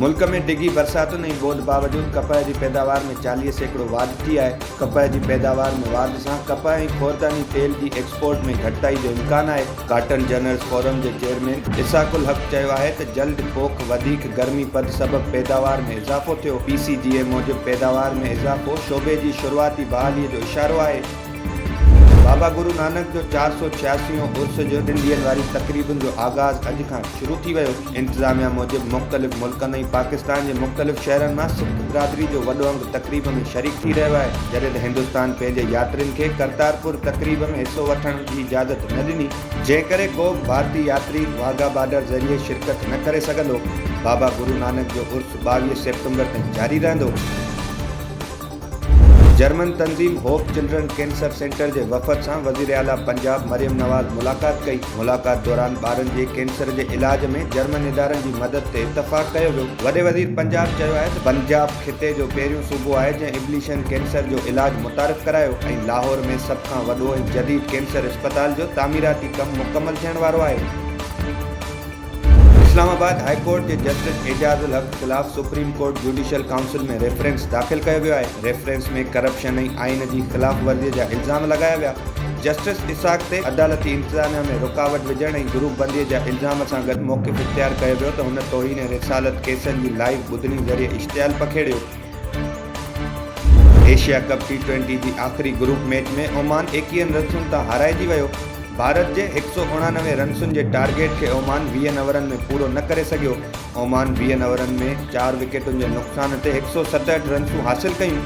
ملڪ ۾ ڊگهي برساتن ۽ ٻوڏ باوجود ڪپهه جي پيداوار ۾ چاليهه سيڪڙو واڌ ٿي آهي ڪپهه جي پيداوار ۾ واڌ سان ڪپهه ۽ خورداني تيل جي ايڪسپورٽ ۾ گهٽتائي جو امڪان آهي ڪاٽن جنرل فورم جي چيئرمين اسحاق الحق چيو آهي ته جلد پوک وڌيڪ گرمي پد سبب پيداوار ۾ اضافو ٿيو، پي سي جي اي موجب پيداوار ۾ اضافو شعبي جي شروعاتي بحالي جو اشارو آهي. بابا گرو نانڪ جو چار سؤ ڇياسي يون عرس جي ڏن ڏينهن واري تقريبن جو آغاز اڄ کان شروع ٿي ويو. انتظاميا موجب مختلف ملڪن ۽ پاڪستان جي مختلف شهرن مان سک برادري جو وڏو انگ تقريب ۾ شريڪ ٿي رهيو آهي جڏهن ته هندستان پنهنجي ياترين کي ڪرتارپور تقريب ۾ حصو وٺڻ جي اجازت نه ڏني جنهن ڪري ڪو به ڀارتي ياتري واگها بارڊر ذريعي شرڪت نه ڪري سگهندو بابا گرو نانڪ جو عرس ٻاويهه سيپٽمبر تائين جاري رهندو. جرمن تنظيم هوپ چلڊرن ڪينسر سينٽر جي وفد سان وزيراعليٰ پنجاب مريم نواز ملاقات ڪئي، ملاقات دوران ٻارن جي ڪينسر جي علاج ۾ جرمن ادارن جي مدد تي اتفاق ڪيو ويو، وڏي وزير پنجاب چيو آهي ته پنجاب خطي جو پهريون صوبو آهي جنهن ابليشن ڪينسر جو علاج متعارف ڪرايو ۽ لاهور ۾ سڀ کان وڏو ۽ جديد ڪينسر اسپتال جو تعميراتي ڪم مڪمل ٿيڻ وارو آهي. اسلام آباد هاء ڪورٽ جي جسٽس اعجاز الحق خلاف supreme court judicial council ۾ reference داخل ڪيو ويو آهي، ريفرنس ۾ ڪرپشن ۽ آئين جي خلاف ورزي جا الزام لڳايا ويا، جسٽس اسحاق تي عدالتي انتظاميا ۾ رڪاوٽ وجهڻ ۽ گروپ بندي جا الزام سان گڏ موقف اختيار ڪيو ويو ته هن توهين رسالت ڪيسن جي لائيو ٻڌڻي ذريعي اشتعال پکيڙيو. ايشيا ڪپ ٽي ٽوئنٽي جي آخري گروپ ميچ ۾ اومان ايڪيهن رنسن تان هارائجي ويو، ڀارت جي هڪ سؤ اڻانوي رنسن جي ٽارگيٽ کي اومان ويهن اورن ۾ پورو نه ڪري سگهيو، اومان ويهن اورن ۾ چار وڪيٽن جي نقصان تي هڪ سؤ ستهٺ رنسون حاصل ڪيون.